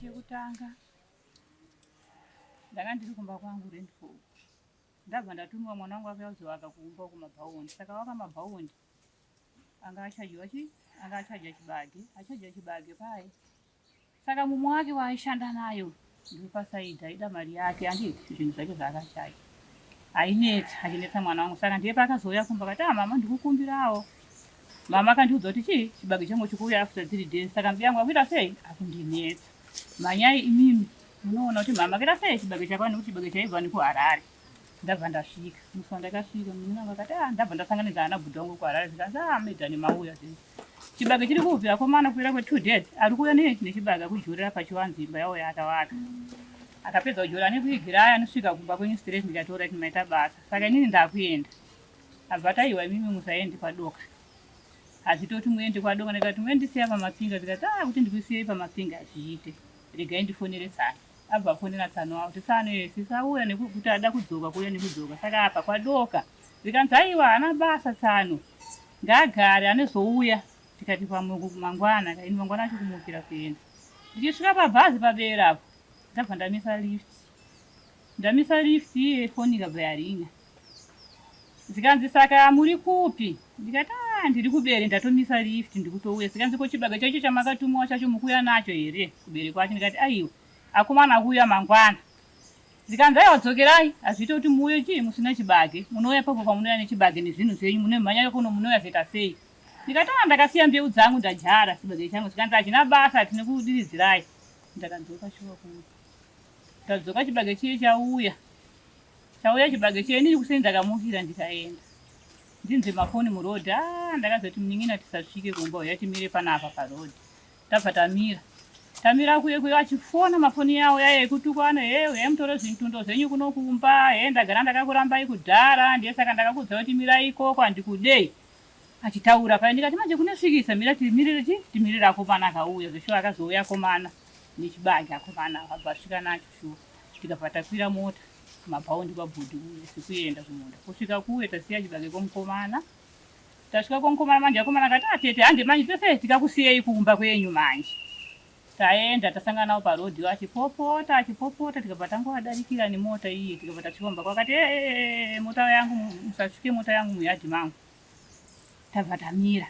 chekutanga ndanga ndiri kumba kwangu rendful ndabva ndatumiwa mwana wangu akuya kuzovaka kumba uko mabhaundi saka waka mabhaundi anga achadyiwa chi anga achadya chibage achadya chibage paye Saka mumwe wake waaishanda nayo ndopasaidhi aida mari yake anditi zvinhu zvake zvaakashaya ainetsa achinetsa mwana wangu saka ndiye paakazouya kumba akati ah mama ndikukumbirawo mama akandiudza kuti chii chibage changu chikuuya after three days saka mbuya yangu akuita sei akundinetsa manyai imimi munoona kuti mama akaita sei chibage chako nekuti chibage chaibva nekuharare ndabva ndasvika musi wandakasvika muninangu akati ah ndabva ndasanganidzana nabhuda wangu kuharare zvikanzi ah maidhani mauya zvinzi Chibage chiri kubvira komana kuwira kwe two dead ari kuuya nechibage akujourira pachiwanzi imba yawo yaakavaka akapedza kujoura anekuigira aya anosvika kumba kwenyu straight ndikataura kuti maita basa saka inini ndakuenda abva taiwa imimi musaende kwadoka hazvitoti muende kwadoka ndikati muendisiya pamapinga zikati a ah, kuti ndikusiyeyi pamapinga hazviite regai ndifonere tsana Abva afonera tsano avo kuti tsano iye sisi auya nekuti ada kudzoka kuuya nekudzoka saka apa kwadoka zvikanzi aiwa haana basa tsano ngaagare anezouya tikati pamuku mangwana kaini mangwana acho kumukira kuenda ndichisvika pabhazi pabera apo ndabva ndamisa lift ndamisa lift iye foni ikabva yarinya Zvikanzi saka muri kupi? Ndikati ah ndiri kuBere ndatomisa lift ndikutouya. Zvikanzi ko chibage chaicho chamakatumiwa chacho mukuuya nacho here kuBere kwacho? Ndikati aiwa akomana akuuya mangwana. Zvikanzi aiwa dzokerai hazviite kuti muuye chii musina chibage munouya ipapo pamunouya nechibage nezvinhu zvenyu munomhanyira kuno munouya zvoita sei? Ndikati ah ndakasiya mbeu dzangu ndadyara chibage changu. Zvikanzi hazvina basa tine kudiridzirai. Ndakadzoka shuwa kuno. Tadzoka chibage chiye chauya. Chauya chibage cheni ini kuseni ndakamukira ndikaenda. Ndinzwe mafoni muroad ah ndakazoti munin'ina tisasvike kumba uya timire panapa paroad. Tabva tamira. Tamira kuye kuye achifona mafoni yawo yaya yekutukwana hey uye mutoro zvintundo zvenyu kuno kumba hey ndagara ndakakurambai kudhara ndiye saka ndakakudzai kuti mirai ikoko handikudei. achitaura paye ndikati manje kunosvikisa mira timirire chi timirire akomana akauya zveshuwa akazouya akomana nechibage akomana akabva asvika nacho shuwa tikabva takwira mota kumabhaundi kwabhudhi uye sekuenda kumunda kusvika kuye tasiya chibage kwomukomana tasvika kwomukomana manje akomana akati atete ah, hande manje tese tikakusiyei kumba kwenyu manje Taenda tasangana navo paroad vachipopota achipopota tikabva tangovadarikira nemota iye tikabva tasvika mumba kwakati ee eh, eh, eh, mota yangu musasvike mota yangu muyadhi mangu tabva tamira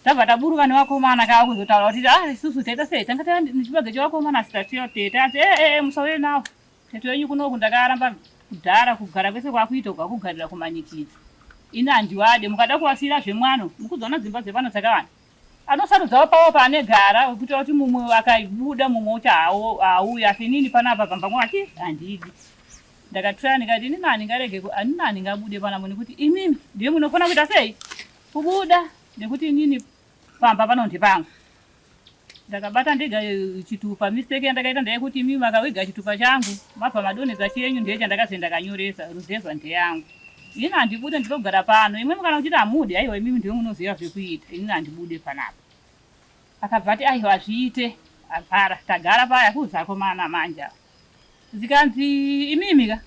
tabva taburuka nevakomana kava kuzotaura kuti a ah, isusu teta sei tanga taa nechibage chevakomana asi tatiyo teta asi ee eh, eh, musauye navo tete wenyu kunoku ndakaramba kudhara kugara kwese kwakuita kwakugarira kumanikidzi ini handiwade mukada kuvasiira zvemwano mukuzoona dzimba dzepano dzakavana anosarudzawo pawo paanegara wekuita kuti mumwe akabuda mumwe uti haauya asi inini panapa pamba mwake handidi ndakatraya ndikati inini handingarege anini handingabude panamo nekuti imimi ndiye munofanira kuita sei kubuda nekuti inini pamba pano ndepangu ndakabata ndega chitupa mistake yandakaita ndeyekuti imimi makawega chitupa changu mabva madonhedza chenyu ndeye chandakazoenda kanyoresa ruzevha ndeyangu Ini handibude ndinogara pano imwimwi kana muchiti hamudi haiwa imimi ndiwe munoziva zvekuita inini handibude panapa. Akabva ati aiwa hazviite agara tagara paya kuudza akomana manje ava. Zvikanzi imimi ka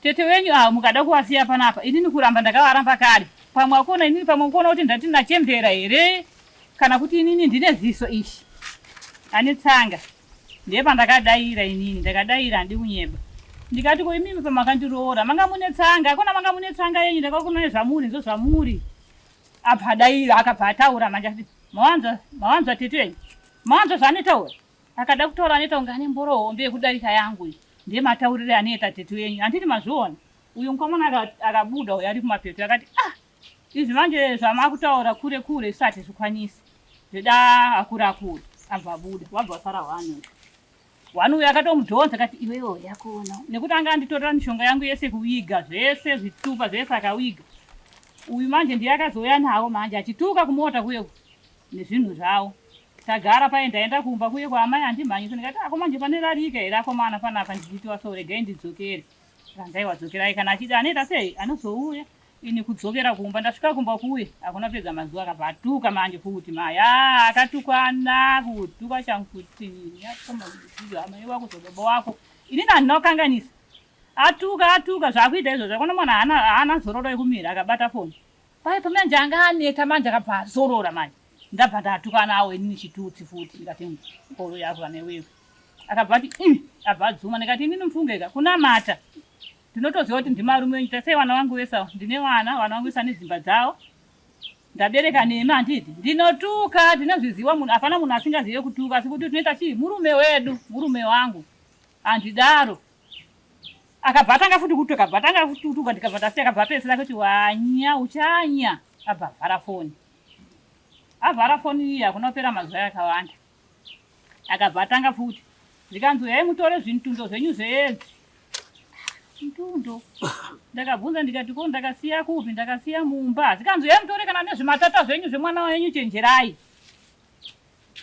tete wenyu ava mukada kuvasiya panapa inini kuramba ndakavaramba kare pamwe akuona inini pamwe kuona kuti ndati nachembera here kana kuti inini ndine ziso ishi ane tsanga. Ndepandakadaira inini ndakadaira handidi kunyeba ndikati ko imimi pamakandiroora manga mune tsanga hakuna manga mune tsanga yenyu ndakakunai zvamuri nzo zvamuri abva adaira akabva ataura manje ati mawanzwa mawanzwa tete wenyu mawanzwa zvaanetaura akada kutaura anoita kunge ane mboro hombe yekudarika yangu iyi ndemataurire anoita tete wenyu handiti mazviona uyu mukomana akabuda uyo ari kumapeto akati ah Izvi manje zvamakutaura kure kure zvisati hatizvikwanisi zveda akura akura abva abuda wabva wasara hwani hwani uyo akatomudhonza kati iwewo yakuona nekuti anga anditorera mishonga yangu yese kuviga zvese zvitupa zvese akaviga uyu manje ndiye akazouya nawo manje achituka kumota kuye nezvinhu zvawo tagara paye ndaenda kumba kuye kwaamai andimhanyisa ndikati ako manje pane rarika here akomana panapa ndichiitiwa so regai ndidzokere randaiwadzokerai kana achiti anoita sei anozouya Ini kudzokera kumba ndasvika kumba kuye hakuna pega mazuva akabva atuka manje futi mai aa akatukana kutuka changu kuti amai wako zvababa wako inini handina kukanganisa atuka atuka zvakuita izvo zvakona mwana haana zororo yekumira akabata foni pai pamanje anga aneta manje akabva azorora manje ndabva ndatukanawo inini chitutsi futi ndikati mboro yako vana iwewe akabva ati abva adzuma ndikati inini mfungeka kunamata Ndinotoziva kuti ndimi varume venyu, tarisai vana vangu vese ava. Ndine vana, vana vangu vese vane dzimba dzavo. Ndabereka nemi handiti? Ndinotuka, ndinozviziva munhu, hapana munhu asingazive kutuka asi kuti tinoita chii? Murume wedu, murume wangu. Handidaro. Akabva atanga futi kutuka, akabva atanga kutuka ndikabva ndasiya, akabva apedzisira kuti wanya, uchanya. Abva avhara foni. Avhara foni iya, hakuna kupera mazuva yakawanda. Akabva atanga futi zvikanzi huyai mutore zvintundo zvenyu zveedzi. Ntundo? Ndakabvunza ndikati ko ndakasiya kupi ndakasiya mumba. Zvikanzi huyai mutore kana nezvimatata zvenyu zvemwana wenyu chenjerai.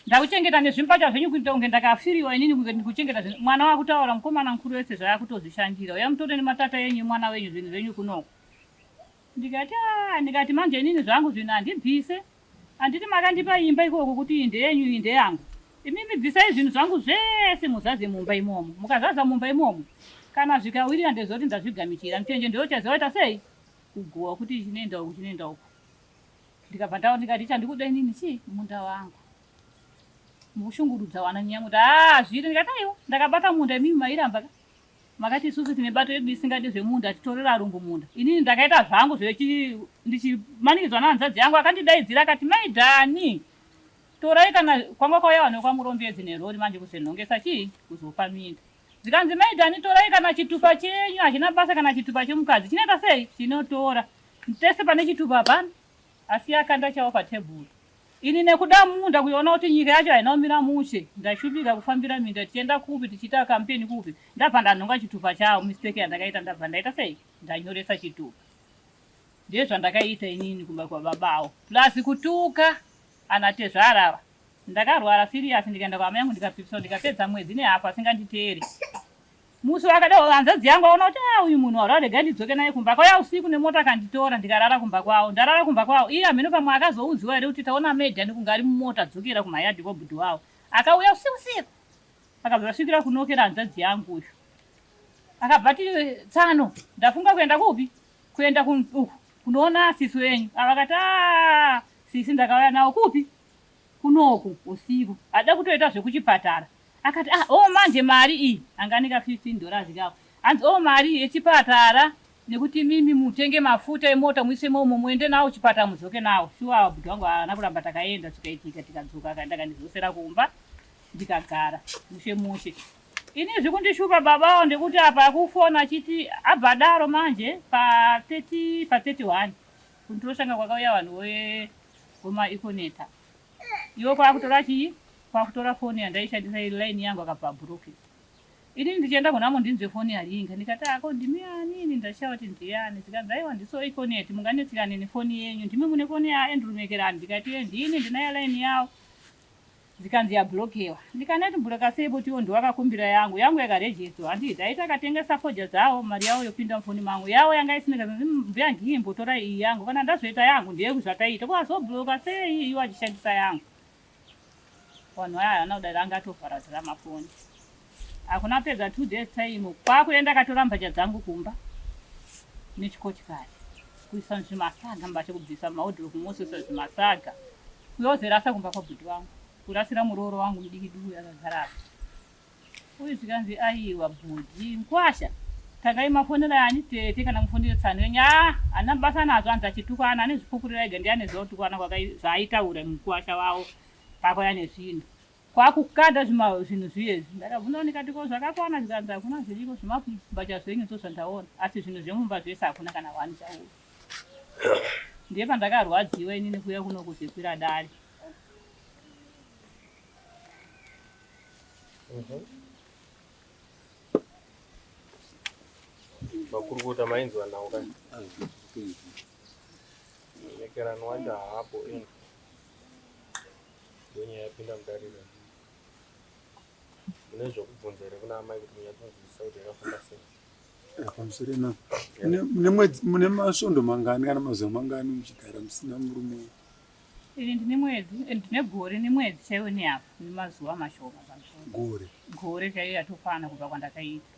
Ndakuchengeta nezvimpata zvenyu kuita kunge ndakafiriwa inini kunge ndikuchengeta zvinhu. Mwana wakutaura mukomana mukuru wese zvaakutozvishandira. Huyai mutore nematata enyu emwana wenyu zvinhu zvenyu kunoko. Ndikati aah ndikati manje inini zvangu zvinhu handibvise handiti makandipa imba ikoko kuti iyi ndeyenyu iyi ndeyangu imimi bvisai zvinhu zvangu zvese muzadze mumba imomo mukazadza mumba imomo kana zvikawirira ndoziva kuti ndazvigamuchira muchenje ndiwe uchaziva waita sei kuguhwa kuti ichi chinoenda uku chinoenda uku ndikabva ndaona ndikati chandikuda inini chii munda wangu mukushungurudza wana nyaya kuti haa zviri ndikati aiwa ndakabata munda imimi mairamba ka Makati isusu tine bato yedu isingadi zvemunda atitorera arungu munda. Inini ndakaita zvangu zvechi ndichimanikidzwa nahanzvadzi yangu akandidaidzira akati mai Dani torai kana kwanga kwauya vanhu vekwaMurombedzi nerori manje kuzonhongesa chii kuzopa minda. Zvikanzi mai Dani torai kana chitupa chenyu hazvina basa kana chitupa chemukadzi chinoita sei chinotora. Pese pane chitupa hapana asi akanda chawo patebhuru. Ini nekuda munda kuiona kuti nyika yacho haina kumira mushe ndaishupika kufambira minda tichienda kupi tichiita campaign kupi ndabva ndanhonga chitupa chavo mistake yandakaita ndabva ndaita sei ndanyoresa chitupa ndezvandakaiita inini kumba kwababa avo plus kutuka ana tezvara ava ndakarwara serious ndikaenda kwaamai yangu ndikapipiswa ndikapedza mwedzi nehafu asinganditeere Musi wakadaro hanzvadzi yangu aona kuti ah uyu munhu warwa rega ndidzoke naye kumba kwaya usiku nemota akanditora ndikarara kumba kwawo ndarara kumba kwawo iye hameno pamwe akazoudziwa here kuti taona maid ane kunge ari mumota dzokera kumayadhi kwabhudhi wawo akauya usiku siku akabva vasvikira kunokera hanzvadzi yangu uyu akabva ati tsano ndafunga kuenda kupi kuenda uku kunoona sisi wenyu avakati a ah, sisi ndakauya nawo kupi kunoku usiku hada kutoita zvekuchipatara Akati ah oh manje mari iyi anga ane ka 15 dollars kako hanzi oh mari iyi yechipatara nekuti imimi mutenge mafuta emota muise imomo muende nawo kuchipatara mudzoke nawo shuwa bhudhi wangu haana kuramba takaenda zvikaitika tikadzoka akaenda akandidzosera kumba ndikagara mushe mushe ini zvikundishupa baba awo ndekuti apa akufona achiti abva adaro manje pa 30 pa 31 kundiroshanga kwakauya vanhu we goma ikoneta Iwe kwakutora chii? Kwakutora phone yandaishandisa iri line yangu akabva abhuroke. Inini ndichienda kuna Mo ndinzwe phone yaringa ndikati haa ko ndimi ani ini ndashaya kuti ndiani zvikanzi aiwa ndiso Econet munganetsekane nephone yenyu ndimi mune phone ya Andrew Mekerani ndikati eeh ndini ndinayo line yawo zvikanzi yabhurokewa. Ndikaneti mbureka sei but iwo ndiwo akakumbira yangu. Yangu yaka register handiti aiti akatengesa fodya dzawo mari yawo yopinda mufoni mangu. Yawo yanga isina kana umm mbuya Ngihi imbotorai iyi yangu kana ndazoita yangu ndeyeku zvataita ko azobloka sei iye iwo achishandisa yangu. Wanhu aya haana kudaro anga atovhara zirama foni. Hakuna kupedza two days time kwakuenda akatora mbatya dzangu kumba nechikochikari kuisa muzvimasaga mbatya kubvisa muma wardrobe mosusa zvimasaga kuyozerasa kumba kwabhudhi wangu. Kurasira murooro wangu mudiki diki uyu akagara apa. Uyu zvikanzi aiwa bhudhi mkwasha. Tangai mafonera ani tete kana mufonera tsano yenyu. Ah, ana basa nazvo anzi achitukwana ane zvipukurira ega ndiye aneziva kutukwana zvaitaura mukwasha wawo pakwaya nezvinhu. Kwakukanda zvima zvinhu zviye izvi. Ndakabvunza ndikati ko zvakakwana zvikanzi hakuna zviriko zvimabhacha zvenyu ndo zvandaona asi zvinhu zvemumba zvese hakuna kana one chauyo. Ndiye pandakarwadziwa inini kuya kuno kuzekwira dare. makurukota mainzwa nawo ka nekerano wacho haapo ini ndonyaya yapinda mudariro mune zvokubvunza here kuna amai kuti munyatinzwisisa kuti yakafamba sei pamusoro na mune masvondo mangani kana mazuva mangani muchigara musina murume Ini ndine mwedzi and ndine gore nemwedzi chaiwo nehafu nemazuva mashoma pamusoro. Gore. Gore chaiyo yatokwana kubva kwandakaita.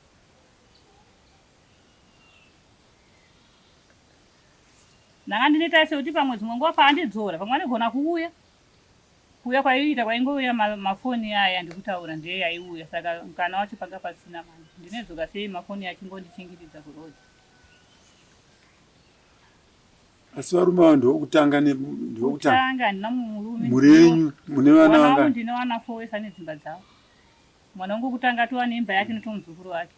Ndanga ndine tarise kuti pamwe dzimwe nguva paandidzora pamwe anigona kuuya. Kuuya kwaiita kwaingouya ma- mafoni aya andikutaura ndiye yaiuya saka mukana wacho panga pasina manje. Ndinedzoka sei mafoni achingondichingididza kuroad. Asi varume ava ndovokutanga ndivokutanga handina murume mhuri yenyu mune vana vangu ndine vana four wese ane dzimba dzavo mwana wangu wokutanga atova neimba yake notomuzukuru wake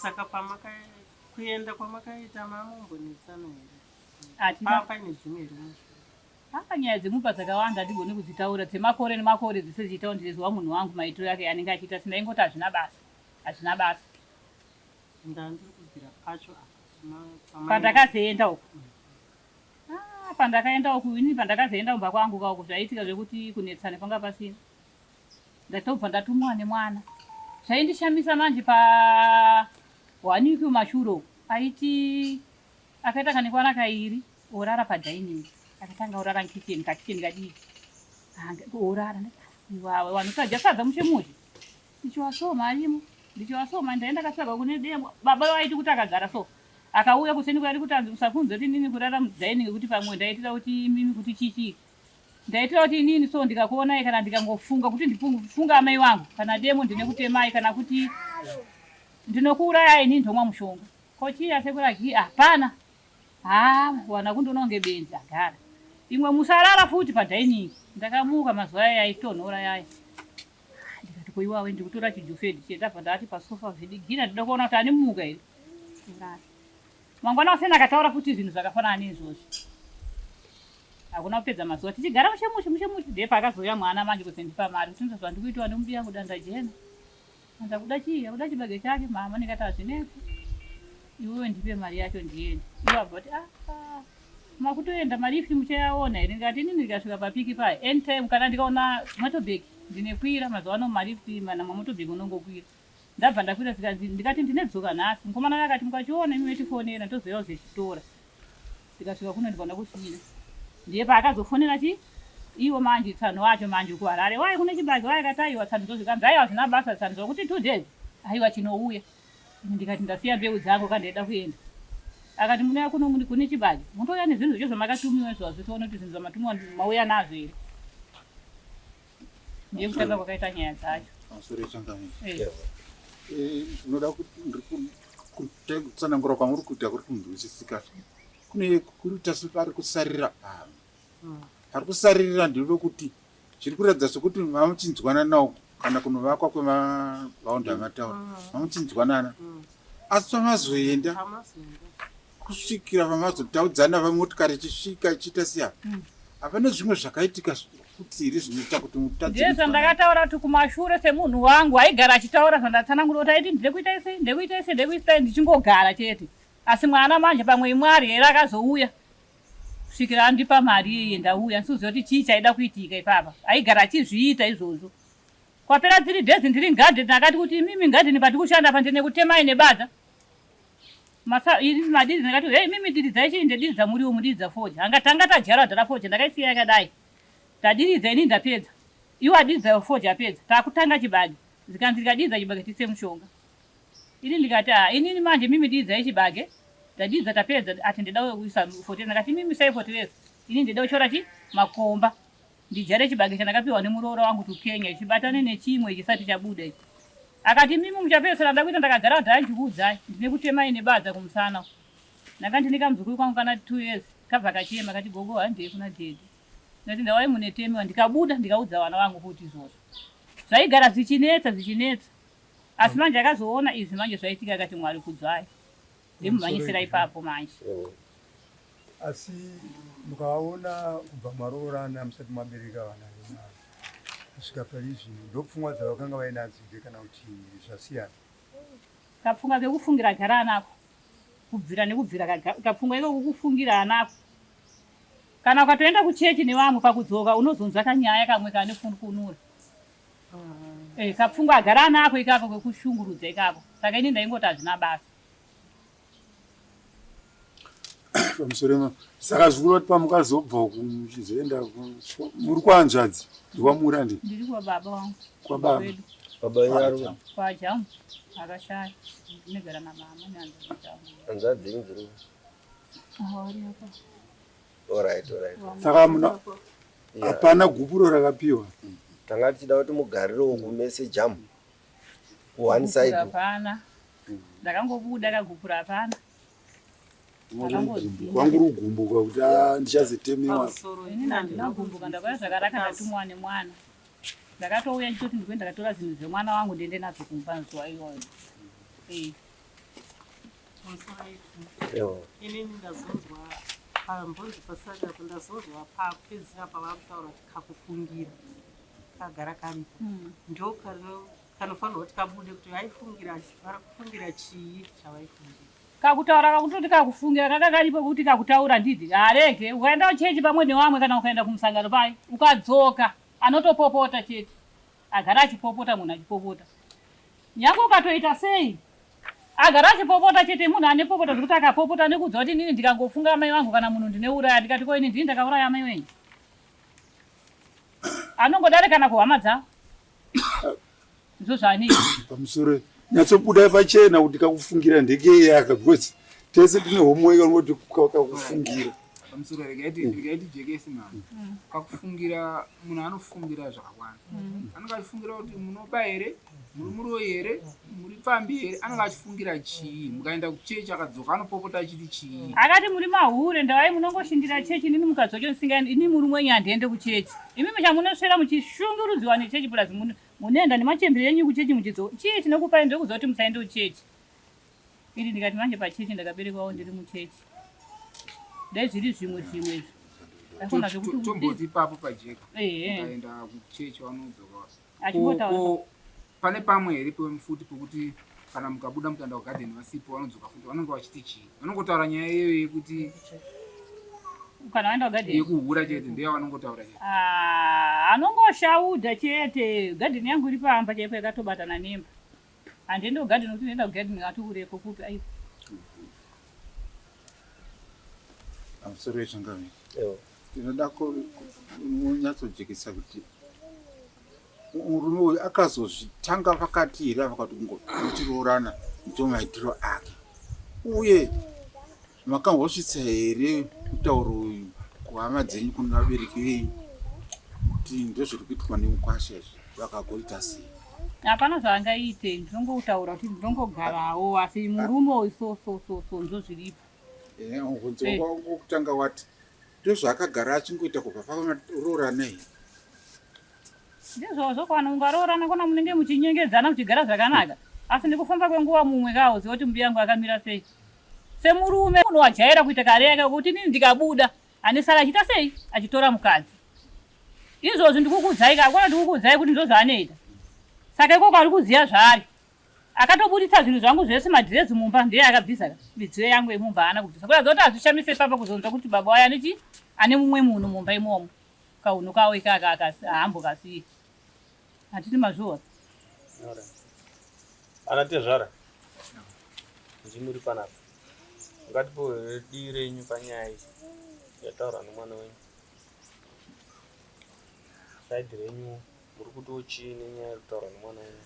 saka pamakakuenda kwamakaita mamombonetsana here hatina paine dzimwe rume Haa nyaya dzemumba dzakawanda handigone kudzitaura dzemakore nemakore dzese dzichitaundirizwa munhu wangu maitiro ake anenge achiita asi ndaingoti hazvina basa hazvina basa. Pandakazoenda uku haa pandakaenda uku inini pandakazoenda kumba kwangu ka uku zvaiitika zvekuti kunetsana panga pasina ndatobva ndatumwa nemwana zvaindishamisa manje pa one week mumashure uku aiti akaita kanekwana kairi Orara pa dining akatanga orara mukitchen kakitchen kadiki orara iwawe wanhu sadya sadza mushe mushe ndichiwasoma arimo ndichiwasoma ndaenda katsvaga kune demo baba vaiti kuti akagara so akauya kuseni kwairi kuti anzi musakunze kuti inini kurara mudining kuti pamwe ndaitira kuti imimi kuti chichii ndaitira kuti inini so ndikakuonai kana ndikangofunga kuti ndifunga amai wangu kana demo ndine kutemai kana kuti ndinokuurayai inini ndomwa mushonga kochiya sekuragi hapana ah, Haa wana kundiona kunge benzi agara. Imwe musarara futi padining. Ndakamuka mazuva aya yaitonhora yaya. Ndikati ko iwawe ndikutora chijufed chiye ndabva ndati pasofa zvidigina ndida kuona kuti animuka here. Kurara. Mangwana kuseni akataura futi zvinhu zvakafanana neizvozvi. Hakuna kupedza mazuva tichigara mushe mushe mushe mushe ndiye paakazouya mwana manje kuti ndipa mari kuti ndizvo zvandikuitiwa nemudiyangu danda jena. Ndakuda chii? Ndakuda chibage chake mama ndikati hazvinetsi. Iwewe ndipe mari yacho ndiende. Iwe abva kuti ah, ah makutoenda mari ifi muchayaona here ndikati inini ndikasvika papiki paya anytime kana ndikaona motobek ndinekwira mazuva ano mari ifi mana mamotobek unongokwira ndabva ndakwira zvikanzi ndikati ndinedzoka nhasi mukomana uyo akati mukachiona imi metifonera tozoyauzechitora Tikasvika kuno ndiko ndakusvira. Ndiye paakazofonera chi iwo manje tsano wacho manje kuharare waye kune chibage waye kati aiwa tsano dzozvikanzi aiwa hazvina basa tsano zvakuti two days aiwa chinouya ini ndikati ndasiya mbeu dzangu ka ndaida kuenda akati munouya kuno muni kune chibage motouya nezvinhu zvacho zvamakatumiwa izvo hazvitoona kuti zvinhu zvamatumiwa mauya nazvo here nekutanga kwakaita nyaya dzacho pamusoro yetsangani unoda kutsanangura kwamuri kuita kuri kunzwisisika kune kuita separi kusarira pano hmm. pari kusaririra ndinoda kuti chiri kuratidza sokuti vamuchinzwananawo kana kunovakwa kwemavaunda amataura hmm. vamuchinzwanana hmm. asi pamazoenda kusvikira vamazotaudzana vamotikari ichisvika ichiita siya mm. hapana mm. zvimwe zvakaitika kuti here zvinoita kuti mutadzesa ndakataura kuti kumashure semunhu wangu aigara achitaura zvandatsanangura kuti aiti ndiri kuita isi ndiri kuita isi ndiri kuita ndichingogara chete asi mwana manje pamwe imwari here akazouya kusvikira andipa mari iyeye ndauya ndisiuziva kuti chii chaida kuitika ipapa aigara achizviita izvozvo kwapera tiri days ndiri ngadheni akati kuti imimi ngadheni patikushanda pandine kutemai nebadza Masa, ini madiri ndakati hey mimi diri dzaichii ndediri dzamuriwo mudiri dzafoje hanga tanga tadyara dhara foje ndakaisiya yakadai tadiridza ini ndapedza iwo adiri dzafoje apedza takutanga chibage zikanzi ndikadiridza chibage tise mushonga ini ndikati ah ini ini manje mimi diri dzaichibage tadiridza tapedza ati ndida kuisa fotere ndakati mimi sai fotere ini ndida kuchora chi makomba Ndidyare chibage chandakapiwa nemuroora wangu Tukenya ichi batane nechimwe chisati chabuda ichi. Akati imimi muchapedzisira ndakuita ndakagara kuti handikuudzai ndinekutemai nebadza kumusana uku. Ndanga ndine kamuzukuru kangu kana 2 years kabva kachema kati gogo handei kuna daddy. Ndikati ndawai munetemiwa ndikabuda ndikaudza vana vangu kuti izvozvo. Zvaigara zvichinetsa zvichinetsa asi manje akazoona izvi manje zvaitika akati Mwari kudzwai. ndimumhanyisira ipapo manje asi mukaona kubva maroorana musati mabereka vana kusvika paizvi ndopfungwa dzavakanga vainadzo here kana kuti zvasiyana kapfungwa kekufungira gara anako kubvira nekubvira kapfungwa iko kukufungira anako kana ukatoenda kuchechi nevamwe pakudzoka unozonzwa kanyaya kamwe kane funkunura Eh, kapfungwa agara anako ikako kwekushungurudza ikako saka ini ndaingoti hazvina basa pamusoro ema saka zvikuru vati pamukazobva uku muchizoenda ku- kwa- muri kwanzvadzi ndikwamuri andi ndiri kwababa wangu kwababa kwedu baba venyu vari kupi? kwajamu akashaya ndinogara namama neanzajamu hanzvadzi dzenyu dziri kupi? awariapa Alright, alright. Saka hamuna Yeah. hapana gupuro rakapiwa. Tanga tichida kuti mugarirewo kumese jam. Ku one Gupura side. hapana ndakangobuda kagupura hapana Ndakangodzimba. Kwangu rugumbuka kuti ah, ndichazetemewa. inini handina kugumbuka ndakauya zvakanaka ndatumwa nemwana ndakatouya ndichoti ndikuenda ndakatora zvinhu zvemwana wangu ndiende nazvo kumba zuva iyoyo Eh, inini ndazonzwa pambonzi pasati apo ndazonzwa papedzisira pavakutaura kuti kakufungira kagara kani hmm. ndo kanofanirwa kuti kabude kuti vaifungira vari kufungira chii chavaifungira kakutaura kakutoti kakufungira kaka karipo kuti kakutaura ndidi harege ukaenda kuchechi pamwe nevamwe kana ukaenda kumusangano pai ukadzoka anotopopota chete Agara achipopota munhu achipopota nyangwe ukatoita sei agara achipopota chete munhu ane popota zvekuti akapopota nekuudza kuti inini ndikangofunga amai vangu kana munhu ndineuraya ndikati ko ini ndini ndakauraya amai venyu anongodare kana kuhama dzavo ndizvo zvaanei pamusoro nyatsobuda pachena kuti kakufungira ndekeyaka because tese tine homework anoti kakufungira pamusoro regai ti- regai tijekesi mhani pakufungira munhu anofungira zvakawanda anenge achifungira kuti munoba here muri muroyi here muri pfambi here anenge achifungira chii mukaenda kuchechi akadzoka anopopota achiti chii akati muri mahure ndavai munongoshindira chechi inini mukadzoka ndisinga ini murume wenyu handiende kuchechi imi musha munoswera muchishungurudziwa nechechi plus mun- munoenda nemachembere enyu kuchechi muchidzoka chii chinokupai ndiri kuziva kuti musaende kuchechi Ini ndikati manje pachechi ndakaberekwawo ndiri muchechi dai zviri zvimwe zvimwe izvo ndafunda zvekuti tomboti ipapo pajeka ukaenda kuchechi vanodzoka achimbotaura pane pamwe here pemufuti pokuti kana mukabuda mukanda kugadheni vasipo vanodzoka futi vanonge vachiti chii vanongotaura nyaya iyoyo yekuti kana vaenda kugadheni yekuhura chete ndeya vanongotaura chete ah, anongoshaudha chete gadheni yangu iri pamba chaipo yakatobatana nemba Handei ndogadheni kuti unoenda kugadheni ati ureko kupi aiwa. Amusoro wechangaviri. Ewa. Ndinoda kunyatsojekesa kuti murume uyu akazozvitanga pakati here ava kuti ngotiroorana ndiwo maitiro ake uye Makambosvitsa here mutauro uyu kuhama dzenyu kuno vabereki venyu kuti ndozviri kuitwa nemukwasha izvi vakagoita sei? Hapana zvaangaite, ndinongoutaura kuti ndinongogarawo asi murume uyu so so so so ndozviripo. Ehe, mubvunzo Eh. wako wokutanga wati Ndozvaakagara achingoita kubva pavanoroorana iyi. Ndizvo zvoko vanhu mungaroorana kona munenge muchinyengedzana muchigara zvakanaka asi nekufamba kwenguva mumwe kaoziva kuti mbuya yangu akamira sei. Semurume munhu wajaira kuita kare yake kuti inini ndikabuda anesara achiita sei achitora mukadzi. Izvozvi ndikukuudzai ka hakuna kuti ndikukuudzai kuti ndozvaanoita. Saka ikoko ari kuziva zvaari. akatoburitsa zvinhu zvangu zvese madress mumba ndiye akabvisa midziyo yangu yemumba haana kubvisa kuratidza kuti hazvishamise papa kuzonzwa kuti baba waye aneti ane mumwe munhu mumba imomo kaunhu kawo ikaka haambo kasiye hatiti mazviona ana tezvara ndimuri panapa ngatipoe dii renyu panyaya iyi yataura nomwana wenyu saidi renyu muri kutiwo chii nenyaya yekutaura nomwana wenyu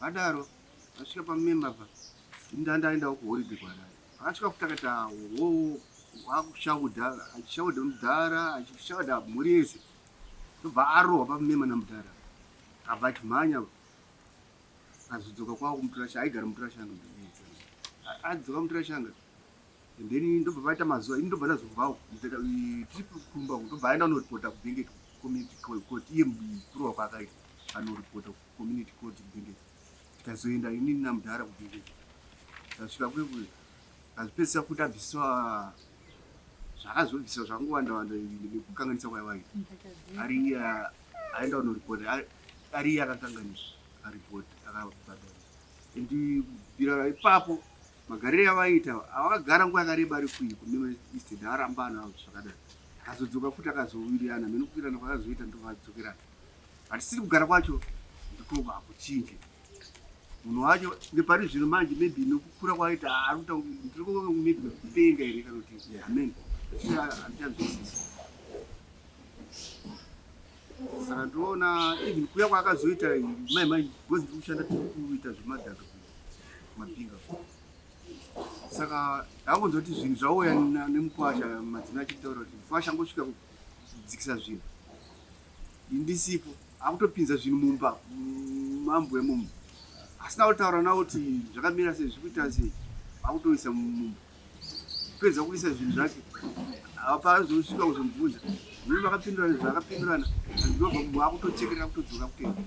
Vadaro vasvika pamumemba apa ndanda aendawo kuholiday kwaDada. Akasvika futi akati awo wakushaudha achishaudha mudhara achishaudha mhuri yese ndobva arohwa pamumema namudhara abva achimhanya azodzoka kwavo kumuturashanga aigara muturashanga adzoka muturashanga and then ndobva vaita mazuva ini ndobva ndazobvawo tiri kumba ndobva aenda anoripota kubengeti community court iye kurohwa kwaakaita anoripota Community court kudhengeza tikazoenda inini namudhara kudhengeza tasvika kwekuyo azvipedzisa futi abviswa zvakazobviswa zvakangowanda wanda nekukanganisa kwaivayo ari iye aenda kunoripoti ari iye akakanganisa aripoti akabhadhara and bvira ipapo magariro yavaiita avakagara nguva yakareba ari kuyi kunema east ndaramba anavo zvakadaro akazodzoka futi akazowirirana mene kuwirirana kwakazoita ndovadzokerana Hatisiri kugara kwacho ndikoba hakuchinje. Munhu wacho nepari zvino manje maybe nokukura kwaita arikuta ndiri kuita kupenga here kana kuti amen. Handichanzwisisi. Saka ndoona even kuya kwaakazoita mai mai because ndiri kushanda tiri kuita zvemadhaka mabhinga. Saka ndakunzwa kuti zvinhu zvauya nemukwasha madzina achitaura kuti mkwasha angosvika kuku. Zvidzikisa zvinhu. Ndisipo akutopinza zvinhu mumba mambo emumu. Asina kutaura nawo kuti zvakamira sei zvikuita sei. Akutoisa mumba. Kupedza kuisa zvinhu zvake. Apa azosvika kuzomubvunza. Mimi vakapindurana zvakapindurana. Ndobva mumwe akutochekerera kutodzoka kuenda.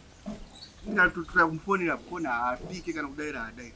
Ndatotura kumufonera foni haapike kana kudaira haadaira.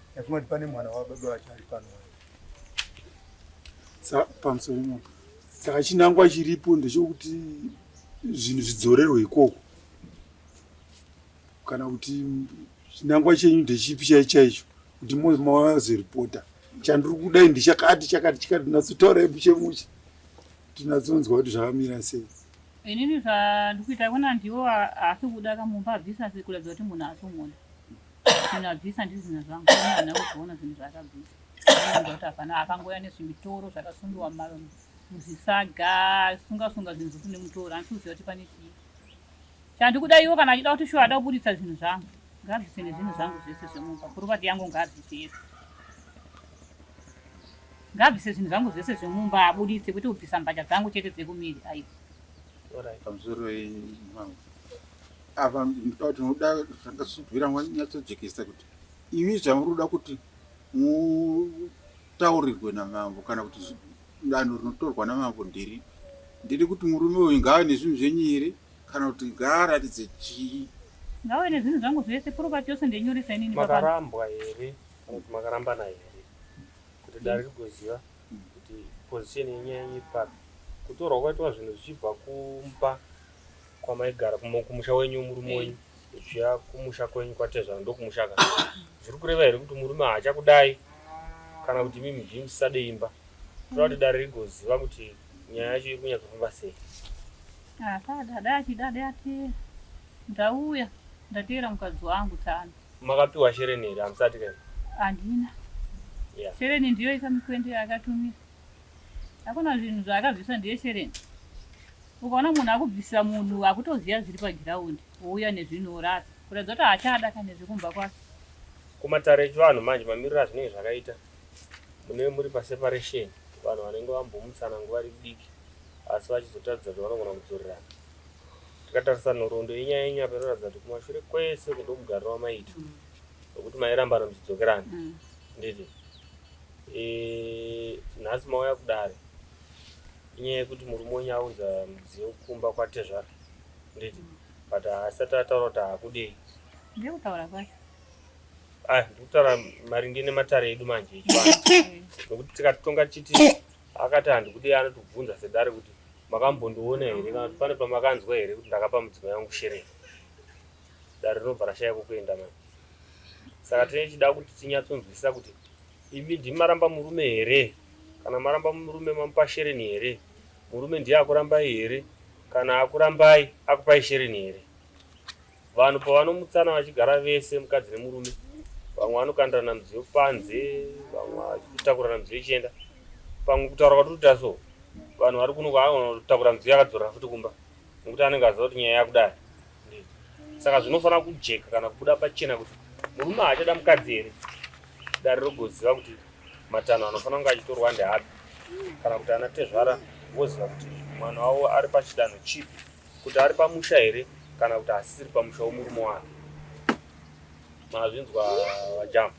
yafunga kuti pane mwana wababa vacho ari pano pamusoro imopo saka chinangwa chiripo ndechokuti zvinhu zvidzorerwe ikoko kana kuti chinangwa chenyu ndechipi chai chaicho kuti mozoripota chandiri kudai ndichakati chakati chikati tinatsotaura ebuche muche tinatsonzwa kuti zvakamira sei inini zvandikuita kuna ndiwo asi kuda kamumba bvisa sekuratidza kuti munhu asomona zvinhu abvisa ndizvina zvangu ana kuzoona zvinhu zvaakabvisa kuti hapana akangoya nezvimitoro zvakasundiwa muzvisaga sunga sunga zvinhu zvekuti nemutoro handisi kuziva kuti pane chii chandikuda iwo kana achida kuti shuwa ada kuburitsa zvinhu zvangu ngaabvise nezvinhu zvangu zvese zvemumba purovati yangu ngaabvise yese ngaabvise zvinhu zvangu zvese zvemumba aburitse kwete kubvisa mbatya dzangu chete dzekumiri aiwa pamusoro wei mwangu Apa ndinoda kuti unoda zvanga zvichibvira wanyatsojekesa kuti imi zvamuri kuda kuti mutaurirwe namambo kana kuti danho rinotorwa namambo ndiri ndiri kuti murume uyu ngaave nezvinhu zvenyu here kana kuti ngaaratidze chii ngawe nezvinhu zvangu zvese property yose ndenyoresa inini papa makarambwa here kana kuti makarambana here kuti dare rigoziva kuti position yenyu yaiva papi kutorwa kwaitwa zvinhu zvichibva kumba kwamaigara kumusha wenyu murume wenyu zviya kumusha kwenyu kwatezvara ndokumushaka zviri kureva here kuti murume haachakudai kana kuti mimi zvi musisade imba toda kuti dare rigoziva kuti nyaya yacho iri kunyatsofamba sei asadada achidade ati ndauya ndateera mukadzi wangu tsano makapiwa shereni here hamusati kani handina yeah. shereni ndiyo ika mikwende yaakatumira hakuna zvinhu zvaakabvisa ndiye shereni Ukaona munhu akubvisa munhu akutoziva zviri paground wouya nezvinhu worasa kuratidza kuti haachada kana nezvekumba kwake. Kumatare echivanhu manje mamiriro azvinenge zvakaita munenge muri paseparation vanhu vanenge vambomutsana nguva iri diki asi vachizotaridza kuti vanogona kudzorerana. Tikatarisa nhoroondo yenyaya yenyu apa inoratidza kuti kumashure kwese uku ndomugariro wamaita wekuti mairambana muchidzokerana handiti? Eeh nhasi mauya kudare. Inyaya yekuti murume wenyu aunza mudziyo kumba kwatezvara nditi but haasati ataura kuti haakudei. Ndekutaura kwake. Ah, ndikutaura maringe nematare edu manje echivanhu. Nokuti tikatonga chiti akati handikudei anotibvunza sedare kuti makambondiona here kana kuti pane pamakanzwa here kuti ndakapa mudzimai yangu sherei. Dare rinobva rashaya kwekuenda manje. Saka tinenge tichida kuti tinyatsonzwisisa kuti Imi ndimi maramba murume here? Kana maramba murume mamupa shereni here? Murume ndiye akurambai here? Kana akurambai akupai shereni here? Vanhu pavanomutsana vachigara vese mukadzi nemurume vamwe vanokandirana mudziyo panze vamwe vachitakurana mudziyo ichienda pamwe kutaura kwatiri kuita so vanhu vari kuno kwaanotakura mudziyo akadzorera futi kumba nekuti anenge aziva kuti nyaya yakudai saka zvinofanira kujeka kana kubuda pachena kuti murume haachada mukadzi here dare rogoziva kuti matanho anofanira kunge achitorwa ndeapi kana kuti ana tezvara voziva kuti mwana wavo ari pachidanho chipi kuti ari pamusha here kana kuti asisiri pamusha womurume wake mazvinzwa vajamba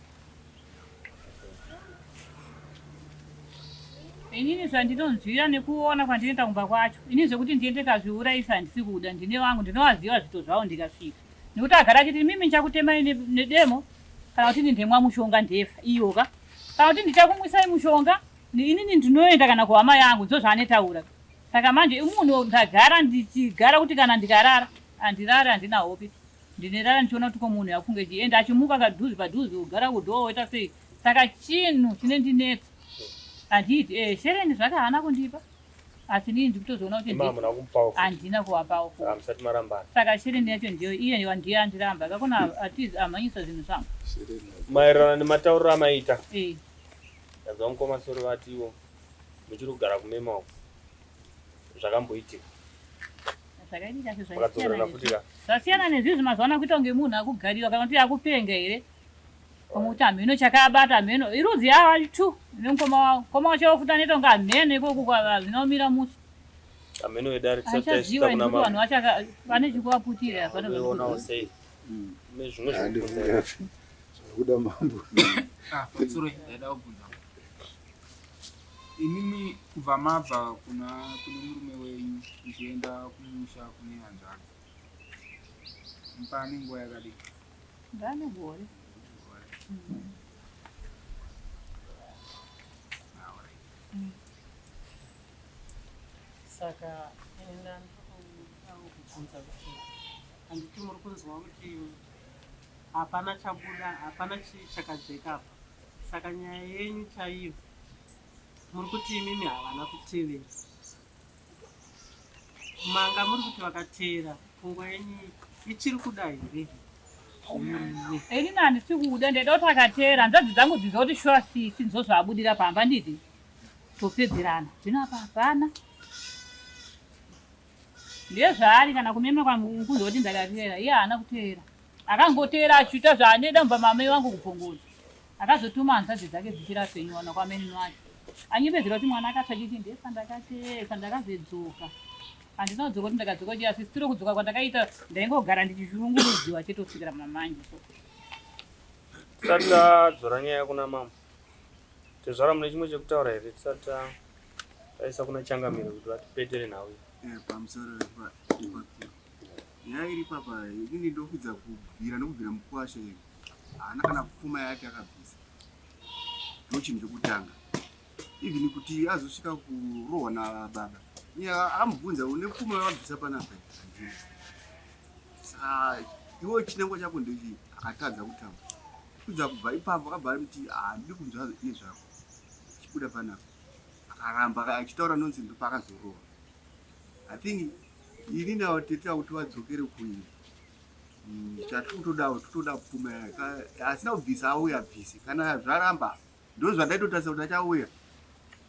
inini zvandinonzwira nekuona kwandinoita kumba kwacho ini zvekuti ndiende kazviuraisa handisi kuda ndine vangu ndinovaziva zvito zvavo ndikasvika nekuti agara achiti mimi ndichakutemai nedemo kana kuti ndindemwa mushonga ndefa iyo ka kana kuti ndichakumwisai mushonga inini ndinoenda kana kuhama yangu ndo zvaanetaura saka manje imunhu ndagara ndichigara kuti kana ndikarara handirare handina hope Ndinerara ndichiona kuti ko munhu akufunge chii and achimuka kadhuzi padhuzi kugara kudoor woita sei saka chinhu chinendinetsa handiiti eh shereni zvake haana kundipa asi inini ndikutozoona kuti Mama hamuna kumupawo futi. handina kuvapawo futi. Ah, musati marambana. saka shereni yacho ndiyo iye wa- ndiye andiramba kakona atizi amhanyisa zvinhu zvangu Maererano nematauriro amaita. Eh. Ndabva mukoma soro vatiwo muchiri kugara kumema uko. Zvakamboitika. zvasiyana nezvizvi mazuva ano kuita kunge munhu akugarira kana kuti akupenga here pamwe kuti hameno chakaabata hameno irudzi yavo ati two nemukoma wavo mukoma wacho wakuti anoita kunge hameno ikoko zvinomira musi hameno vedare tisaziva nekuti vanhu vacho vane chikuvaputira zvinoda mambo ah, Imimi kubva mabva kuna kune murume wenyu muchienda kumusha kune hanzvadzi mpane nguva yakadii? Ndane gore. Saka ini ndandoda kubvunza kuti handiti muri kunzwa kuti hapana chabuda, hapana chi- chakajeka apa. Saka nyaya yenyu chaiyo muri kuti imimi havana kutevera manga muri kuti vakateera pfungwa yenyu ichiri kuda here ini nandisi kuda ndaida kuti akateera nzadzi dzangu dziza kuti shuwa sisi ndizo zvaabudira pamba ndidi topedzerana zvino apa hapana Ndezvaari kana kumema kwamukunzi oti ndakateera iye haana kuteera akangoteera achiita zvaanoida mumba mamai vangu kubvongoza akazotuma hanzvadzi dzake dzichiri apenyu wana kwamainini wake anyebedzera kuti mwana akatsva chichi ndesa ndakatesa ndakazedzoka handina kudzoka kuti ndakadzoka chiya sisitiro kudzoka kwandakaita ndaingogara ndichizvirungurudziwa chete kusvikira mamanje so saka dzora nyaya kuna mambo Tezvara mune chimwe chekutaura here tisati taisa kuna changamire kuti vatipetere nhau iyi? Eh, pamusoro ipapiro nyaya iri papa inini ndokudza kubvira ndokubvira mukwasha iri haana kana pfuma yake akabvisa ndo chinhu chekutanga even kuti azosvika kurohwa nababa amubvunza une pfuma yavabvisa panapa saka iwo chinangwa chako ndechii akatadza kutamba Kudza kubva ipapo akabva arimuti handidi kunzwa nezvako chibuda panapa akaramba achitaura nonsense ndopaakazorohwa i think ini nawo tete akuti vadzokere kuini mm, chatikutodawo tikutoda pfuma yake asina kubvisa auya bvise kana zvaramba Ndozvandaitotarisa kuti achauya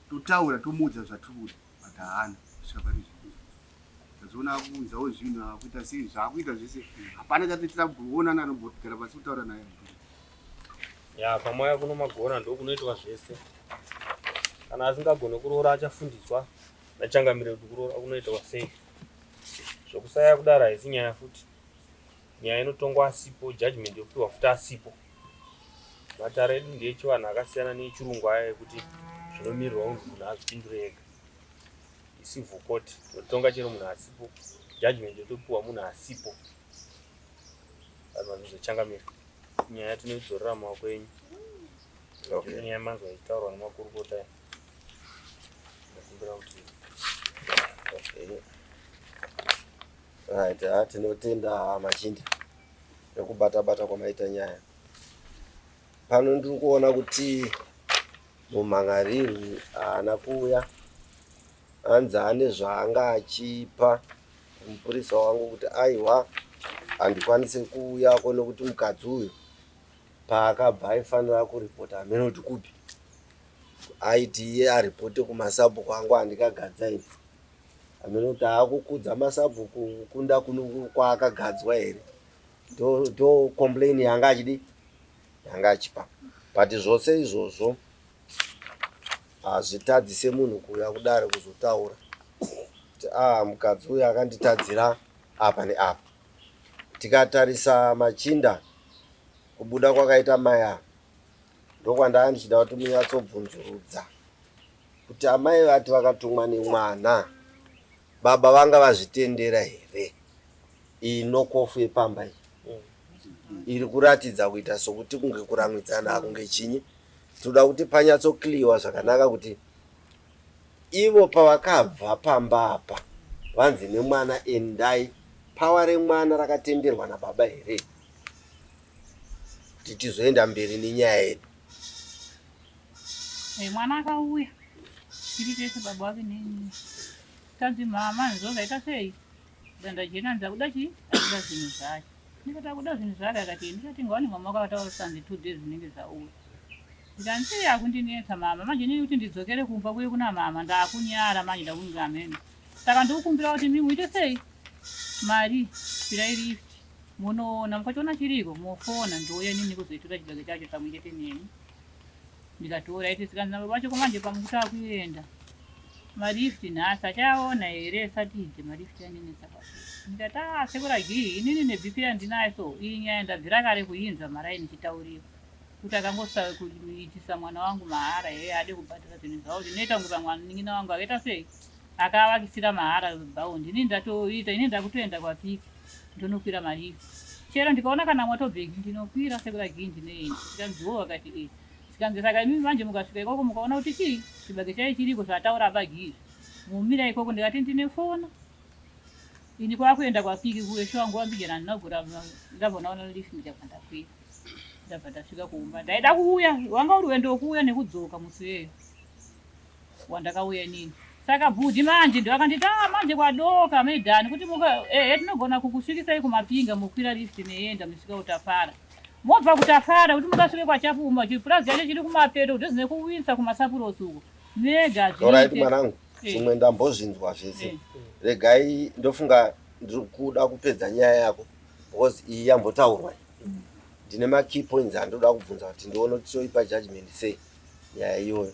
totaura tomuudza zvatiri kuda but haana kusvika pane zvinhu tazoona akuunzawo zvinhu akuita sei zvaakuita zvese hapana chatoitira kuonana anogara pasi kutaura naye ya kwamwaya kuno magona ndokunoitwa zvese kana asingagone kuroora achafundiswa nachangamire kuti kuroora kunoitwa sei zvokusaya kudaro haisi nyaya futi Nyaya inotongwa asipo, judgment yopiwa futi asipo. Matare edu ndeechivanhu akasiyana neechirungu aya ekuti zvinomirirwa kunzi munhu azvipindure ega. Icivil court tinotonga chero munhu asipo, judgment yotopiwa munhu asipo. Vanhu vanozochangamira. Nyaya tinoidzorera mumaoko enyu. Okay. Nyaya yemanzwa ichitaurwa nemakurukota aya. Ndakumbira kuti Okay. Right, ah, tinotenda ah, machinda nekubata bata kwamaita nyaya pano ndiri kuona kuti mumhan'ariri haana kuuya hanzi ane zvaanga achipa mupurisa wangu kuti aiwa handikwanise kuuya ko nekuti mukadzi uyu paakabva aifanira kuripota hameno kuti kupi aiti iye aripote kumasabhuku angu andikagadza ini Hameno kuti akukudza masabhuku kunda kwaakagadzwa here do, do complain yanga achidi yanga achipa but zvose izvozvo hazvitadzise munhu kuuya kudare kuzotaura kuti ah mukadzi uyu akanditadzira apa neapa tikatarisa machinda kubuda kwakaita maya ndokwandaa ndichida kuti munyatsobvunzurudza Kuti amai vati vakatumwa nemwana baba vanga vazvitendera here? Iyi nokofu yepamba iyi iri kuratidza kuita sokuti kunge kuramwidzana kunge chinyi tinoda kuti panyatsokliwa zvakanaka kuti ivo pavakabva pamba apa vanzi nemwana endai pawa remwana rakatenderwa nababa here kuti tizoenda mberi nenyaya yedu Hey, eh, mwana akauya tiri tese baba wake neni tanzi mama hanzo zvaita sei danda jena ndakuda chii akuda zvinhu zvake ndikati akuda zvinhu zvake akati eh, ndikati ngawani mama wake akataura sanzi two days zvinenge zvauya ndikanzi akundinetsa mama manje nini kuti ndidzokere kumba kuye kuna mama ndakunyara manje ndakunga amene saka ndikukumbira kuti mimi uite sei mari pirai lift munoona mukachiona chiriko mofona ndouya nini kuzoitora chibage chacho pamwe chete neni ndikatora ife zvikanzi nababa vacho komanje pamwe kuti akuenda malift nhasi achayaona here satide malift yanenetsa ndikati a ah, sekura gii inini nebp yandinayo so iyi nyaya ndabvira kare kuinzwa maraini ichitauriwa kuti akangosave kuitisa mwana wangu mahara here ade kubhadhara zvinhu zvavo zvinoita kunge pamwe anin'ina wangu akaita sei Akaavakisira mahara bhawo ndini ndatoita ini ndakutoenda kwapiki ndonokwira malift chero ndikaona kana motobheki ndinokwira sekura gii ndinoenda zvikanzi wo vakati e zvikanzi saka imimi manje mukasvika ikoko mukaona kuti chii chibage chai chiriko zvataura abagi izvi mumira ikoko ndikati ndine fona ini kwakuenda kwapiki kuwesho wangu wambijana ndinogura ndabva ndaona lift ndikabva ndakwira ndabva ndasvika kumba ndaida kuuya wanga uri wendo wokuuya nekudzoka musi weyo wandakauya inini saka bhudhi manje ndo akanditi ah manje kwadoka maidhani kuti muka ehe tinogona kukusvikisai kumapinga mokwira lift meienda musvika utafara mobva kutafara kuti mukasvike kwachapuma chipurazi chacho chiri kumapeto kudhuze nekuwinsa kumasapurosi uko mega Alright hazviite mwanangu, Eh. zvimwe ndambozvinzwa zvese. Eh. Regai ndofunga ndiri kuda kupedza nyaya yako because iyi yambotaurwa. iyi. Ndine ma key points andoda kubvunza kuti ndione kuti toipa judgment sei nyaya iyoyo.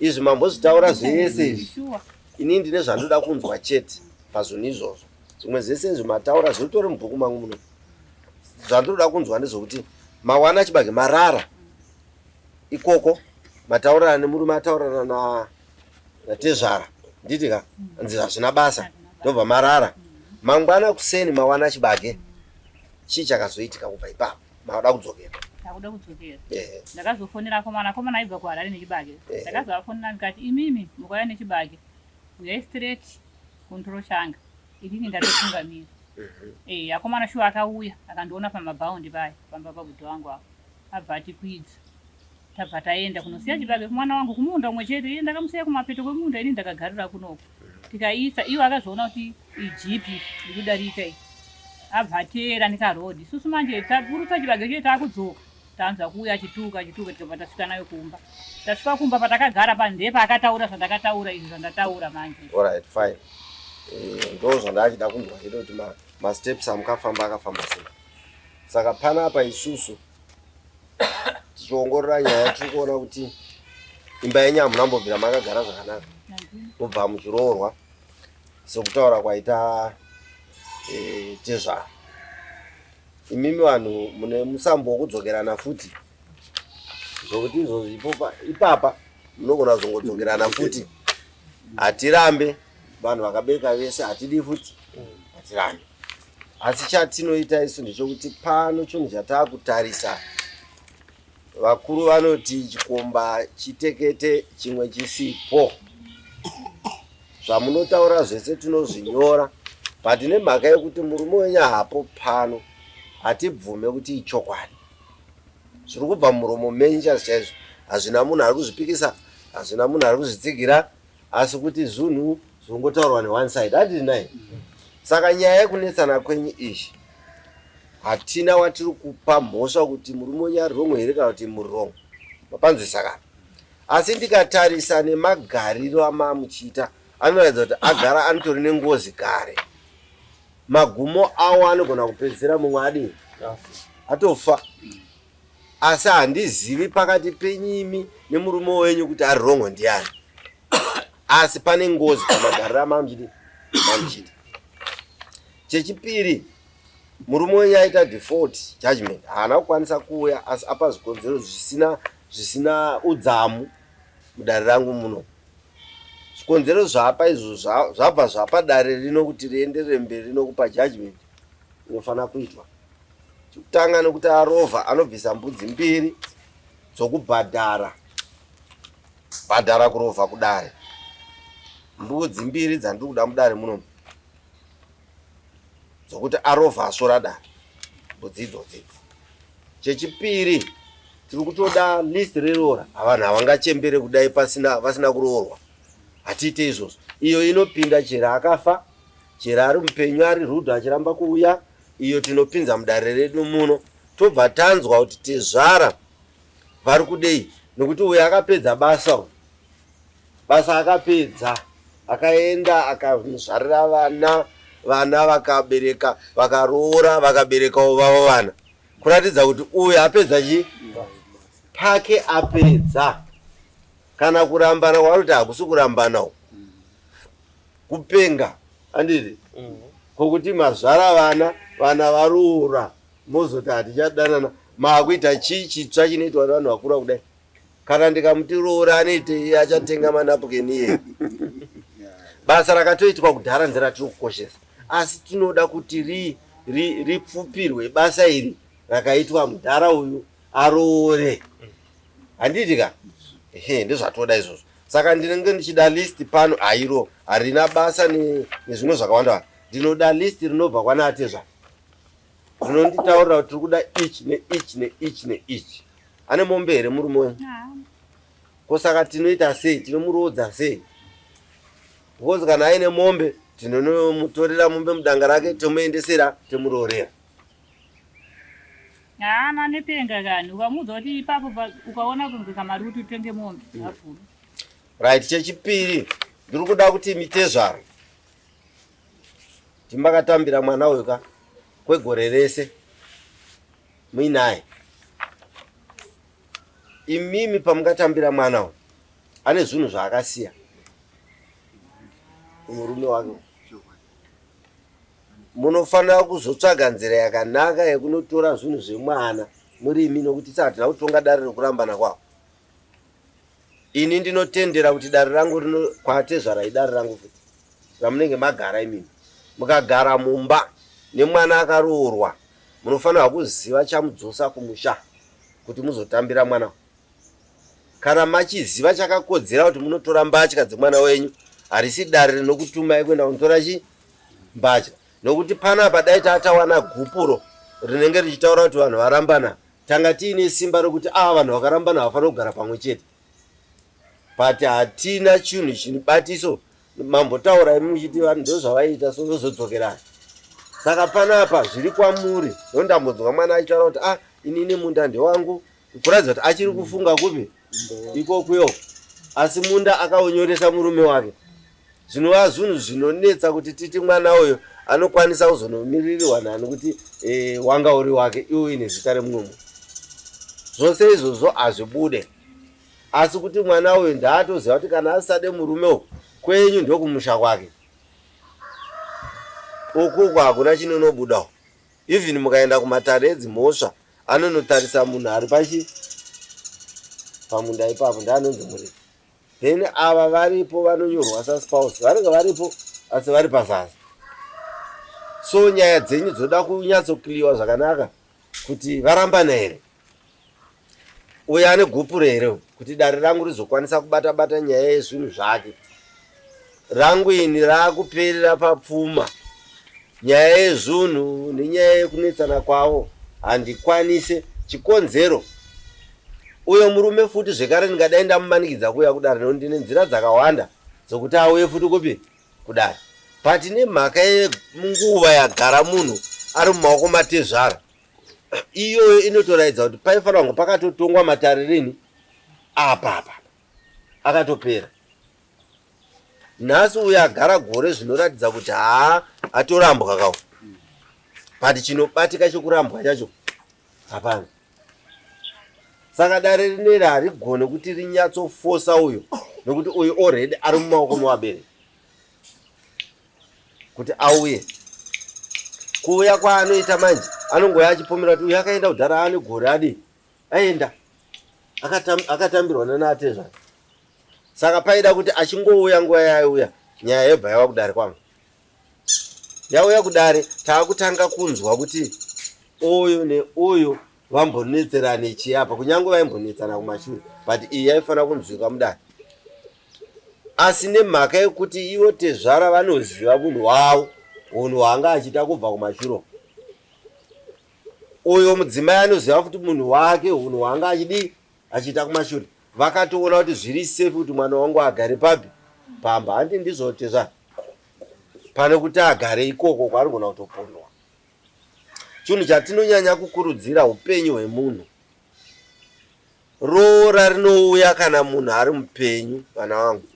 Izvi mambozvitaura zvese izvi ini ndine zvandoda kunzwa chete pazvinhu izvozvo zvimwe zvese izvi mataura zvinotori mubhuku mangu muno zvandinoda kunzwa ndezvokuti mawana chibage marara ikoko mataurana nemurume ataurana na natezvara nditi ka nzi hazvina basa ndobva marara mangwana kuseni mawana chibage chii chakazoitika kubva ipapo Makuda kudzokera. Ndakuda kudzokera. Eh. Ndakazofonera akomana, akomana aibva kuHarare nechibage. Eh. Ndakazovafonera ndikati imimi mukauya nechibage. Uyai straight kuNtoro Shanga. Inini ndatotungamira. Mhm. Eh, akomana shuwa akauya akandiona pamabhaundi paya pamba pabudo wangu apo. Abva atikwidza. Tabva taenda kunosiya chibage kumwana wangu kumunda umwe chete iye ndakamusiya kumapeto kwemunda ini ndakagarira kunoko tikaisa ivo akazviona kuti ijipi ndikudarika i abva ateera nekarod isusu manje taburutsa chibage chete takudzoka tanzwa kuuya achituka achituka tikabva tasvika nayo kumba tasvika kumba patakagara pandepa akataura zvandakataura izvi zvandataura manje right fine eh, ndo zvandachida kunzwa chete kuti masteps amukafamba akafamba sei saka panapa isusu tichiongorora nyaya tiri kuona kuti imba yenyu hamuna mbobvira makagara zvakanaka mubva muchiroorwa sekutaura kwaita eh, tezvara imimi vanhu mune musambo wokudzokerana futi zvokuti izvozvi ipapa munogona kuzongodzokerana futi hatirambe vanhu vakabereka vese hatidi futi hatirambe Asi chatinoita isu ndechokuti pano chinhu chatakutarisa vakuru vanoti chikomba chitekete chimwe chisipo zvamunotaura zvese tinozvinyora but nemhaka yekuti murume wenyu hapo pano hatibvume kuti ichokwadi zviri kubva muromo menyu chazi chaizvo hazvina munhu ari kuzvipikisa hazvina munhu ari kuzvitsigira asi kuti zvunhu zvinongotaurwa ne one side adii nai saka nyaya yekunetsana kwenyu izvi hatina watiri kupa mhosva kuti murume wenyu ari wrong here kana kuti muri wrong mapanzwisa kana asi ndikatarisa nemagariro amaamuchiita anoratidza kuti agara anotori nengozi kare magumo awo anogona kupedzisira mumwe adii atofa asi handizivi pakati penyu imi nemurume wenyu kuti ari rongo ndiani asi pane ngozi pamagariro amamchidi mamchidi chechipiri murume wenyu aita default judgment haana kukwanisa kuuya asi apa zvikonzero zvisina zvisina udzamu mudare rangu muno zvikonzero zvaapa izvo zvabva zvapa dare rino kuti rienderere mberi nokupa judgment inofanira kuitwa Chekutanga nokuti arova anobvisa mbudzi mbiri dzokubhadhara bhadhara kurova kudare. Mbudzi mbiri dzandiri kuda mudare munomu dzokuti arova asvora dare mbudzi idzodzidzi. Chechipiri tiri kutoda list reroora avanhu havangachembere kudai pasina vasina kuroorwa hatiite izvozvo iyo inopinda chero akafa chero ari mupenyu ari rudo achiramba kuuya iyo tinopinza mudare redu muno tobva tanzwa kuti tezvara vari kudei nekuti uyu akapedza basa uyu basa akapedza akaenda akazvarira vana vana vakabereka vakaroora vakaberekawo vavo vana kuratidza kuti uyu apedza chi pake apedza kana kurambana kwaari kuti hakusi kurambana uku kupenga anditi kokuti mazvara vana vana varoora mozoti hatichadanana maakuita chii chitsva chinoitwa nevanhu vakura kudai kana ndikamuti roora anoitei achatenga manapukeni iye basa rakatoitwa kudhara nzira tiri kukoshesa asi tinoda kuti ri ripfupirwe basa iri rakaitwa mudhara uyu aroore handiti ka ehe ndozvatoda izvozvo Saka ndinenge ndichida list pano airo harina basa nezvimwe zvakawanda. Ndinoda list rinobva kwana Atezva. Rinonditaurira kuti tiri kuda each ne each ne each ne each. Ane mombe here murume uyu? Ko saka tinoita sei? Tinomuroodza sei? Because kana aine mombe tinonomutorera mombe mudanga rake tomuendesera tomuroorera. Haa manopenga kani ukamuudza kuti ipapo ukaona kunge kamari kuti utenge mombe hafuru. Right chechipiri ndiri kuda kuti mitezvaro timakatambira mwana uyu ka kwegore rese muinaye imimi pamungatambira mwana uyu ane zvinhu zvaakasiya murume wake Munofanira kuzotsvaga nzira yakanaka yekunotora zvinhu zvemwana murimi nokuti saka hatina kutonga dare rekurambana kwavo. Ini ndinotendera kuti dare rangu rino kwatezvara idare rangu futi ramunenge magara imimi. Mukagara mumba nemwana akaroorwa munofanirwa kuziva chamudzosa kumusha kuti muzotambira mwana. Kana machiziva chakakodzera kuti munotora mbatya dzemwana wenyu harisi dare rinokutumai kuenda kunotora chii mbatya nokuti panapa dai tatawana gupuro rinenge richitaura kuti vanhu varambana tanga tiine simba rokuti ava ah, vanhu vakarambana havafanira kugara pamwe chete but hatina chinhu chinibatiso mambotaurai muchiti vanhu ndozvavaiita so vozodzokerana saka panapa zviri kwamuri ndondambonzwa mwana achitaura kuti ah inini munda ndewangu kuratidza kuti achiri kufunga kupi ikokuyo asi munda akaunyoresa murume wake zvinova zvinhu zvinonetsa kuti titi mwana uyo anokwanisa kuzonomiririrwa nani kuti e, wanga uri wake iwo ine zita remumwe munhu zvose izvozvo hazvibude asi kuti mwana uyo ndaatoziva kuti kana asisade murume uku kwenyu ndokumusha kwake ukuku hakuna chinonobudawo even mukaenda kumatare edzimhosva Anonotarisa munhu ari pachi pamunda ipapo ndaanonzi murefu then ava varipo vanonyorwa saspouse vanenge varipo asi vari pazaza so nyaya dzenyu dzoda kunyatsokliwa zvakanaka kuti varambana here uyo ane gupuro here kuti dare rangu rizokwanisa kubata bata nyaya yezvinhu zvake Rangu ini raakuperera papfuma. Nyaya yezvunhu nenyaya yekunetsana kwavo handikwanise chikonzero uyo murume futi zvekare ndingadai ndamumanikidza kuuya kudare nekuti ndine nzira dzakawanda dzokuti auye futi kupi kudare but nemhaka yenguva yagara munhu ari mumaoko matezvara iyoyo inotoraidza kuti paifanira kunge pakatotongwa matare rini apapa akatopera nhasi uyo agara gore zvinoratidza kuti haa atorambwa kawo but chinobatika chekurambwa chacho hapana saka dare rineri harigone kuti rinyatsofosa uyo nokuti uyo already ari mumaoko mewabereki kuti auye kuuya kwaanoita manje anongouya achipomera kuti uyo akaenda kudhara ane gore adii aenda akatam, akatambirwa nanaatezvana saka paida kuti achingouya nguva yaiuya nyaya yebva yava kudare kwangu yauya kudare taakutanga kunzwa kuti uyu neuyu vambonetserane chii apa kunyange vaimbonetsana kumashure but iyi yaifanira kunzwika mudare asi nemhaka yekuti ivo tezvara vanoziva munhu wavo unhu hwanga achiita kubva kumashuro Uyo mudzimai anoziva futi munhu wake hunhu hwaanga achidii achiita kumashure. Vakatoona kuti zviri safe kuti mwana wangu agare papi pamba hanti ndizvo tezvara pane kuti agare ikoko kwaanogona kutopondwa. Chinhu chatinonyanya kukurudzira hupenyu hwemunhu. Roora rinouya kana munhu ari mupenyu vana vangu.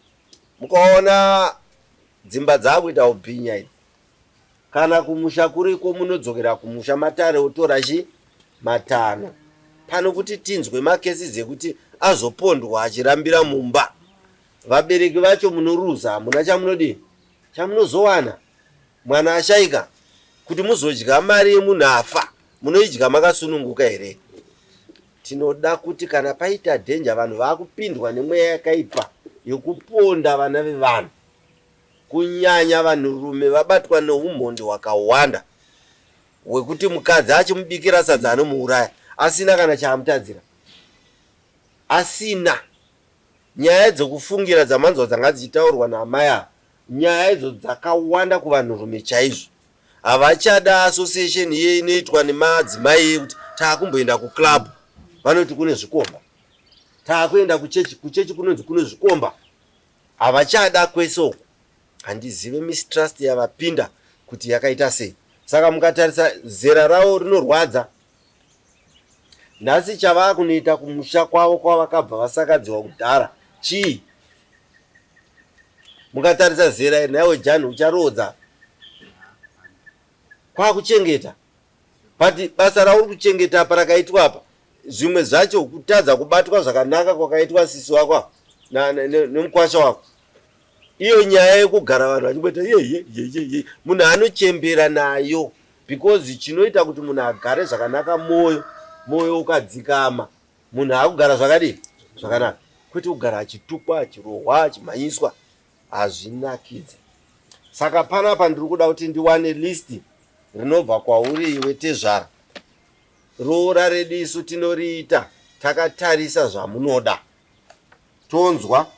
Mukaona dzimba dzaakuita hubhinya idzi Kana kumusha kuriko munodzokera kumusha matare otora chi matanho pano kuti tinzwe ma cases ekuti azopondwa achirambira mumba vabereki vacho munoruza hamuna chamunodii chamunozowana mwana ashaika kuti muzodya mari yemunhu afa munoidya makasununguka here tinoda kuti kana paita danger vanhu vakupindwa nemweya yakaipa yokuponda vana vevanhu Kunyanya vanhurume vabatwa neumhondi hwakawanda hwekuti mukadzi achimubikira sadza anomuuraya asina kana chaamutadzira. Asina. Nyaya dzekufungira dzamanzwa dzanga dzichitaurwa naamai ava, nyaya idzo dzakawanda kuvanhurume chaizvo. Havachada association iye inoitwa nemadzimai yekuti taakumboenda kuclub vanoti kune zvikomba, taakuenda kuchechi, kuchechi kunonzi kune zvikomba. Havachada kwese uku handizive mistrust yavapinda kuti yakaita sei saka mukatarisa zera ravo rinorwadza nhasi chavakunoita kumusha kwavo kwavakabva vasakadziwa kudhara chii mukatarisa zera iri nhaiwe jani ucharoodza kwakuchengeta But basa rauri kuchengeta apa rakaitwa apa zvimwe zvacho kutadza kubatwa zvakanaka kwakaitwa sisi wako nemukwasha wako iyo nyaya yekugara vanhu vachingoita yeyeyeyeye munhu anochembera nayo because chinoita kuti munhu agare zvakanaka mwoyo mwoyo ukadzikama munhu akugara zvakadii zvakanaka kwete kugara achitukwa achirohwa achimhanyiswa hazvinakidze saka panapa ndiri kuda kuti ndiwane list rinobva kwauri iwe tezvara roora redu isu tinoriita takatarisa zvamunoda tonzwa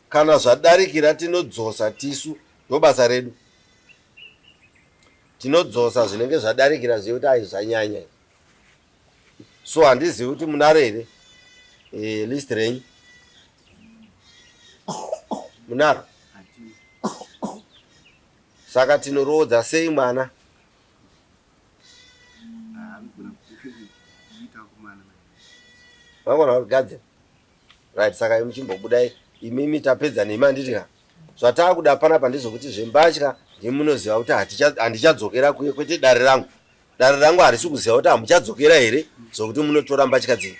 kana zvadarikira tinodzosa tisu ndobasa redu tinodzosa zvinenge zvadarikira zviye kuti aizvanyanya so handizivi kuti munaro here e, list renyu munaro saka tinoroodza sei mwana vangona kugadzira right saka imi chimbobudai imimi tapedza nemi handiti ka zvataakuda panapa ndezvekuti zvembatya ndimunoziva kuti handichadzokera kuye kwete dare rangu Dare rangu harisi kuziva kuti hamuchadzokera here zvokuti munotora mbatya dzenyu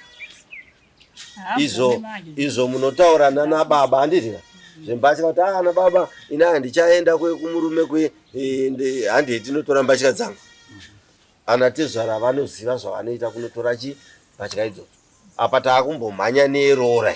izvo izvo munotaura nana baba handizvina zvembatya kuti ah, ana baba ini handichaenda kumurume kwe e, handei tinotora mbatya dzangu ana tezvara vanoziva zvavanoita kunotora chi mbatya idzodzo apa taakumbomhanya neroora